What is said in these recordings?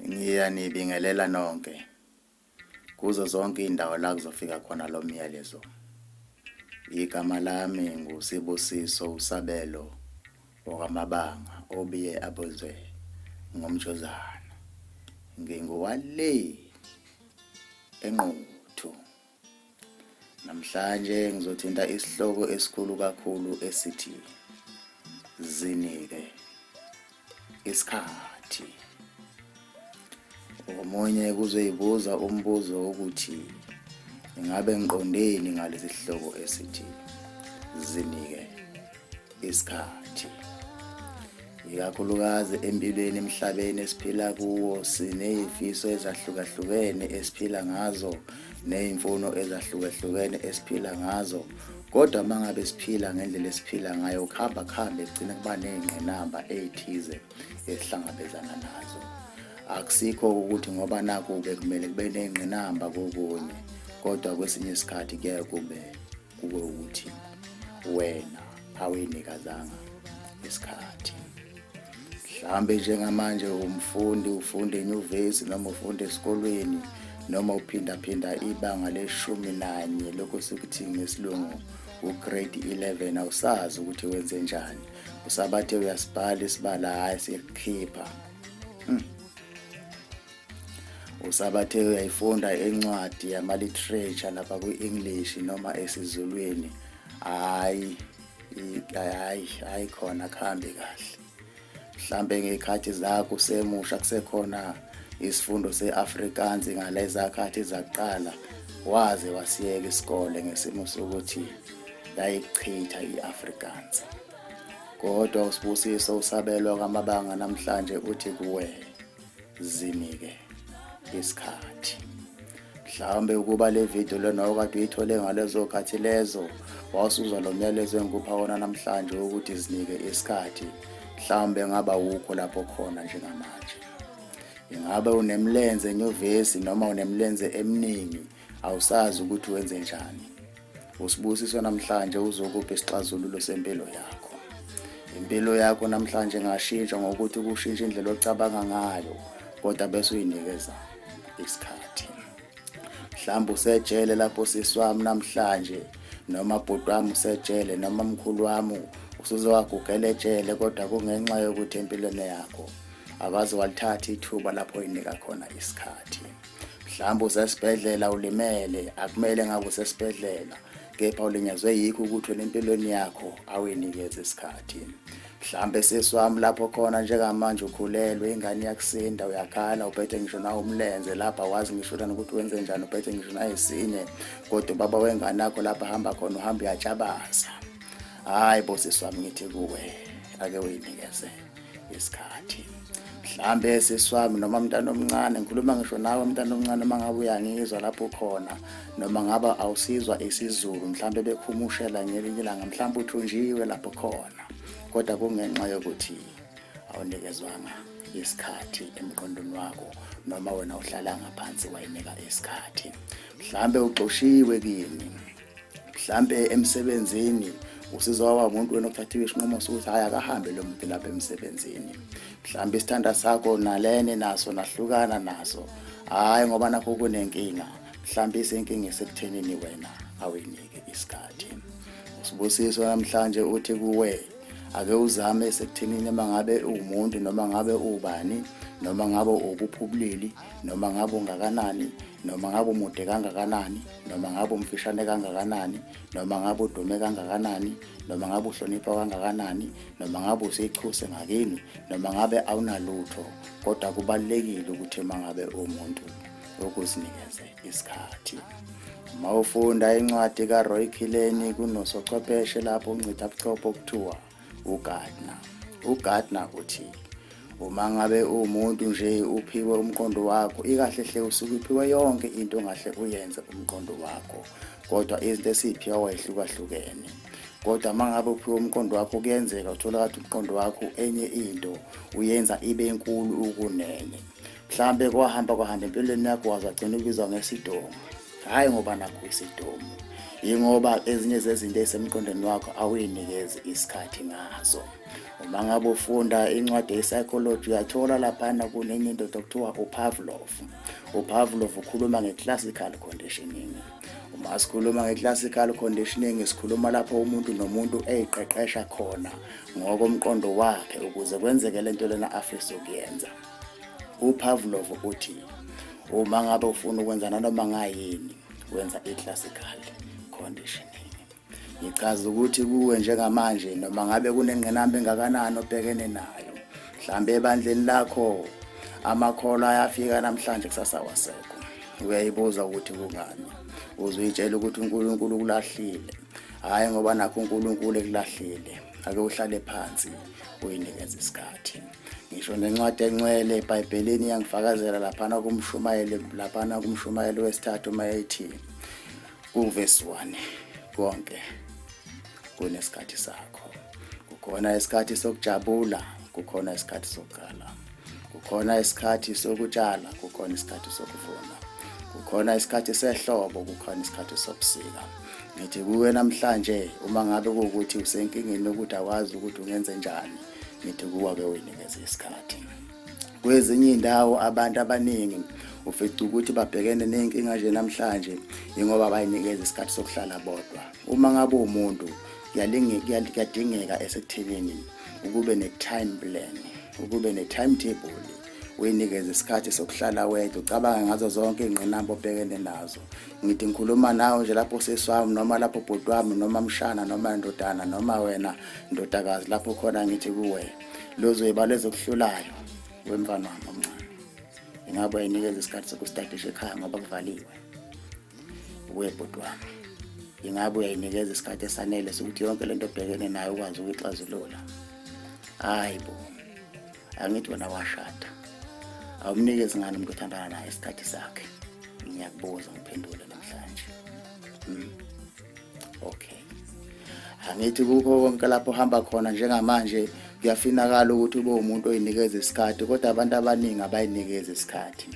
Ngiyanibingelela nonke kuzo zonke indawo la kuzofika khona lo myalezo. Igama lami nguSibusiso uSabelo okwamabanga obiye abozwe ngomjozana. Nginguwale enquthu. Namhlanje ngizothinta isihloko esikhulu kakhulu esithi zinike isikhathi. Omunye kuzoyibuza umbuzo wokuthi ingabe ngiqondeni ngalesi sihloko esithi zinike isikhathi ikakhulukazi empilweni emhlabeni esiphila kuwo siney'fiso ezahlukahlukene esiphila ngazo ney'mfuno ezahlukahlukene esiphila ngazo kodwa uma ngabe siphila ngendlela esiphila ngayo kuhamba kuhambe kugcine kuba ney'ngqinamba ey'thize esihlangabezana nazo akusikho ukuthi ngoba naku-ke kumele kube ney'ngqinamba kokunye kodwa kwesinye isikhathi kuyaye kube kube ukuthi wena awuyinikezanga isikhathi mhlambe njengamanje umfundi ufunda enyuvesi noma ufunda esikolweni noma uphindaphinda ibanga leshumi nanye lokho sikuthi ngesilungu ugrade 11 awusazi ukuthi wenze njani usabathe uyasibhala isibala hhayi siyakukhipha hmm. usabathe uyayifunda incwadi yama-literature lapha kwi-english noma esizulwini hhayi hhayi hhayi khona kuhambe kahle mhlampe ngey'khathi zakho usemusha kusekhona isifundo se-afrikaans ngalezakhathi zakuqala waze wasiyeka isikole ngesimo sokuthi yayichitha i-afrikaans kodwa usibusiso usabelwa kwamabanga namhlanje uthi kuwena zinike isikhathi mhlawumbe ukuba le video lona okade uyithole ngalezo khathi lezo wawusuzwa lo myalezo engikupha wona namhlanje ukuthi zinike isikhathi mhlawumbe ngaba wukho lapho khona njengamanje ingabe unemlenze enyuvesi noma unemlenze eminingi awusazi ukuthi wenze njani usibusiso namhlanje uzokuphi isixazululo sempilo yakho impilo yakho namhlanje ngashintsha ngokuthi kushintsha indlela ocabanga ngayo kodwa bese uyinikeza isikhathi mhlawumbe usejele lapho sisi wami namhlanje noma bhuti wami usejele noma mkhulu wami usuze wagugela etshele kodwa kungenxa yokuthi empilweni yakho awazi walithatha ithuba lapho oyinika khona isikhathi mhlawumbe usesibhedlela ulimele akumele ngabe usesibhedlela kepha ulinyazwe yikho ukuthi wena empilweni yakho awuyinikeze isikhathi mhlambe sisi wami lapho khona njengamanje ukhulelwe ingane yakusinda uyakhala uphethe ngisho nawe umlenze lapha wazi ngisho lana ukuthi wenze njani uphethe ngisho naye sinye kodwa ubaba wengane yakho lapha hamba khona uhamba uyatshabaza hayi bo sisi wami ngithi kuwe ake uyinikeze isikhathi mhlambe sisi wami noma mntana omncane ngikhuluma ngisho nawe mntana omncane uma ngabe uyangizwa lapho khona noma ngaba awusizwa isizulu mhlambe bekhumushela ngelinye ilanga mhlambe uthunjiwe lapho khona kodwa kungenxa yokuthi awunikezwanga isikhathi emqondweni wakho noma wena uhlala ngaphansi wayinika isikhathi mhlambe ugxoshiwe kini mhlampe emsebenzini usizo waba umuntu wena othathiwe isinqumo sokuthi hhayi akahambe lo muntu lapha emsebenzini mhlawumbe isithanda sakho nalene naso nahlukana naso hhayi ngoba nakho kunenkinga mhlawumbe isenkinga esekuthenini wena awuyinike isikhathi usibusiso namhlanje uthi kuwe ake uzame esekuthenini uma ngabe uwumuntu noma ngabe ubani noma ngabe ukuphi ubulili noma ngabe ungakanani noma ngabe umude kangakanani noma ngabe umfishane kangakanani noma ngabe udume kangakanani noma ngabe uhlonipha kangakanani noma ngabe usichuse ngakini noma ngabe awunalutho kodwa kubalulekile ukuthi uma ngabe umuntu ukuzinikeze isikhathi uma ufunda incwadi karoy khileni kunosochwepheshe lapho uncitha buchopho kuthiwa uGardner. UGardner uthi uma ngabe uwumuntu nje uphiwe umqondo wakho ikahle hle usuke uphiwe yonke into ongahle uyenze umqondo wakho kodwa izinto esiphiwa wayehlukahlukene kodwa uma ngabe uphiwe umqondo wakho kuyenzeka uthola kathi umqondo wakho enye into uyenza ibe nkulu ukunene mhlambe kwahamba kwahamba empilweni yakho wazagcina ubizwa ngesidomu hhayi ngoba nakho isidomu yingoba ezinye zezinto ezisemqondweni wakho awuyinikezi isikhathi ngazo uma ngabe ufunda incwadi ye-psychology uyathola laphana kunenye indoda okuthiwa upavlov upavlov ukhuluma nge-classical conditioning uma sikhuluma nge-classical conditioning sikhuluma lapho umuntu nomuntu eyiqeqesha khona ngokomqondo wakhe ukuze kwenzeke le nto lena afisa ukuyenza UPavlov uthi uma ngabe ufuna ukwenza nanoma ngayini wenza i-classical conditioning. Ngichaza ukuthi kuwe njengamanje noma ngabe kunengqinamba engakanani obhekene nayo. Mhlambe ebandleni lakho amakholwa ayafika namhlanje kusasa wasekho. Uyayibuza ukuthi kungani. Uzuyitshela ukuthi uNkulunkulu ukulahlile. Hayi ngoba nakho uNkulunkulu ekulahlile. Ake uhlale phansi uyinikeze isikhathi. ngisho nencwadi encwele ebhayibhelini iyangifakazela laphana kumshumayeli laphana kumshumayeli wesithathu uma ethi kuvesi 1 konke kunesikhathi sakho kukhona isikhathi sokujabula kukhona isikhathi sokukhala kukhona isikhathi sokutshala kukhona isikhathi sokuvuna kukhona isikhathi sehlobo kukhona isikhathi sobusika ngithi kuwe namhlanje uma ngabe kuwukuthi usenkingeni yokuthi awazi ukuthi ungenze njani ngithi kuwa ke uyinikeze isikhathi kwezinye iy'ndawo abantu abaningi ufica ukuthi babhekene ney'nkinga nje namhlanje yingoba bayinikeza isikhathi sokuhlala bodwa uma ngabe umuntu kuyadingeka esekuthenini ukube ne-time plan ukube ne-timetable uyinikeze isikhathi sokuhlala wedwa ucabange ngazo zonke iy'ngqinamba obhekene nazo ngithi ngikhuluma nawe nje lapho seswami noma lapho bhuti wami noma mshana noma ndodana noma wena ndodakazi lapho khona ngithi kuwe lozoyiba lezokuhlulayo wemfana wami omncane ingabe uyayinikeza isikhathi sokustadisha ekhaya ngoba kuvaliwe kuwe bhuti wami ingabe uyayinikeza isikhathi esanele sokuthi yonke le nto obhekene nayo ukwazi ukuyixazulula hayi bo angithi wena washada awumnikezi ngani umuntu othandana naye isikhathi sakhe ngiyakubuza ngiphendule namhlanje mm. okay angithi kukho konke lapho hamba khona njengamanje kuyafinakala ukuthi ube umuntu oyinikeza isikhathi kodwa abantu abaningi abayinikeza isikhathi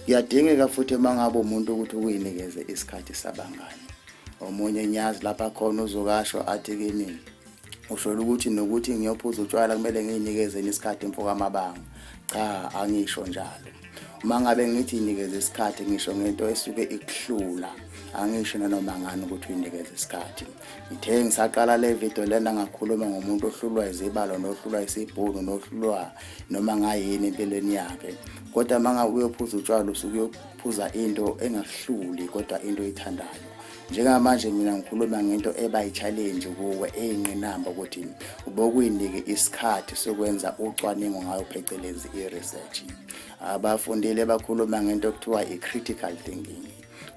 kuyadingeka futhi uma ngabe umuntu ukuthi ukuyinikeze isikhathi sabangani omunye nyazi lapha khona uzokasho athi kimi usholo ukuthi nokuthi ngiyophuza utshwala kumele ngiyinikezeni isikhathi mfo kamabanga cha angisho njalo uma ngabe ngithi inikeze isikhathi ngisho ngento esuke ikuhlula angisho nanoma ngani ukuthi uyinikeze isikhathi ngithe ngisaqala le video lena ngakhuluma ngomuntu ohlulwa izibalo nohlulwa isibhunu nohlulwa noma ngayini empilweni yakhe kodwa uma ngabe uyophuza utshwala usuke uyophuza into engahluli kodwa into oyithandayo njengamanje mina ngikhuluma ngento eba yi-challenge kuwe eyinqinamba ukuthi ubokuyinike isikhathi sokwenza ucwaningo ngayo phecelezi i-research abafundile bakhuluma ngento okuthiwa i-critical thinking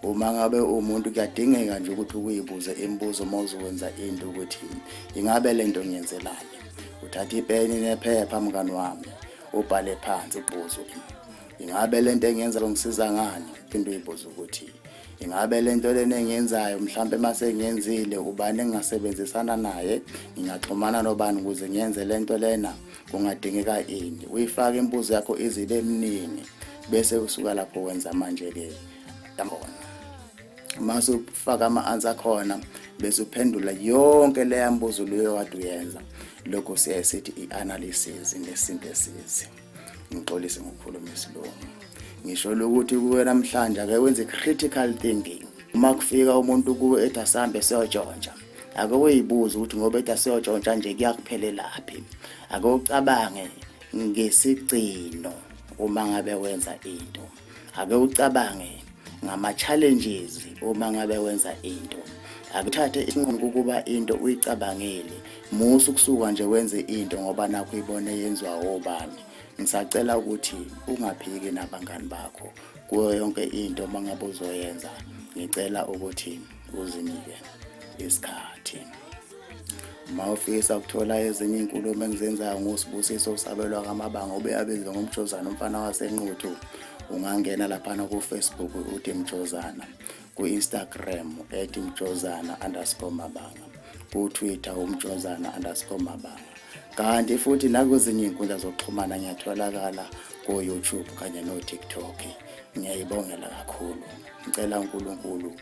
uma ngabe umuntu kuyadingeka nje ukuthi ukuyibuze imibuzo uma uzokwenza into ukuthi ingabe le nto ngiyenzelani uthatha ipeni nephepha mngani wami ubhale phansi ubuze ukuthi ingabe le nto engiyenza ngisiza ngani phinde uyibuze ukuthi ingabe le nto lena engiyenzayo mhlawumpe uma sengiyenzile ubani engingasebenzisana naye ngingaxhumana nobani ukuze ngiyenze le nto lena kungadingeka ini uyifake imbuzo yakho izibe eminingi bese usuka lapho wenza manje-ke yabona uma sufaka ama-answer khona bese uphendula yonke leya mbuzo leyo wade uyenza lokho siyaye sithi i-analysis ngesintu esizi ngixolise ngokukhuluma isilungu ngisho lokuthi kuwe namhlanje ake wenze critical thinking uma kufika umuntu kuwe ethi asambe siyotshontsha ake uyibuze ukuthi ngoba ethi asiyotshontsha nje kuyakuphelelaphi ake ucabange ngesigcino uma ngabe wenza into ake ucabange ngama-challenges uma ngabe wenza into akuthathe isinqumo ukuba into uyicabangile musa ukusuka nje wenze into ngoba nakho uyibone yenziwa obani ngisacela ukuthi ungaphiki nabangani bakho kuyo yonke into uma ngabe uzoyenza ngicela ukuthi uzinike isikhathi uma ufisa ukuthola ezinye iy'nkulumo engizenzayo ngosibusiso usabelwa kamabanga ube abizwe ngomjozana umfana wasenquthu ungangena laphana kufacebook uthi mjozana ku-instagram ethi mjozana underscore mabanga kutwitter umjozana underscore mabanga kanti futhi nakwezinye iy'nkundla zokuxhumana ngiyatholakala ko-youtube kanye no-tiktok ngiyayibongela kakhulu ngicela unkulunkulu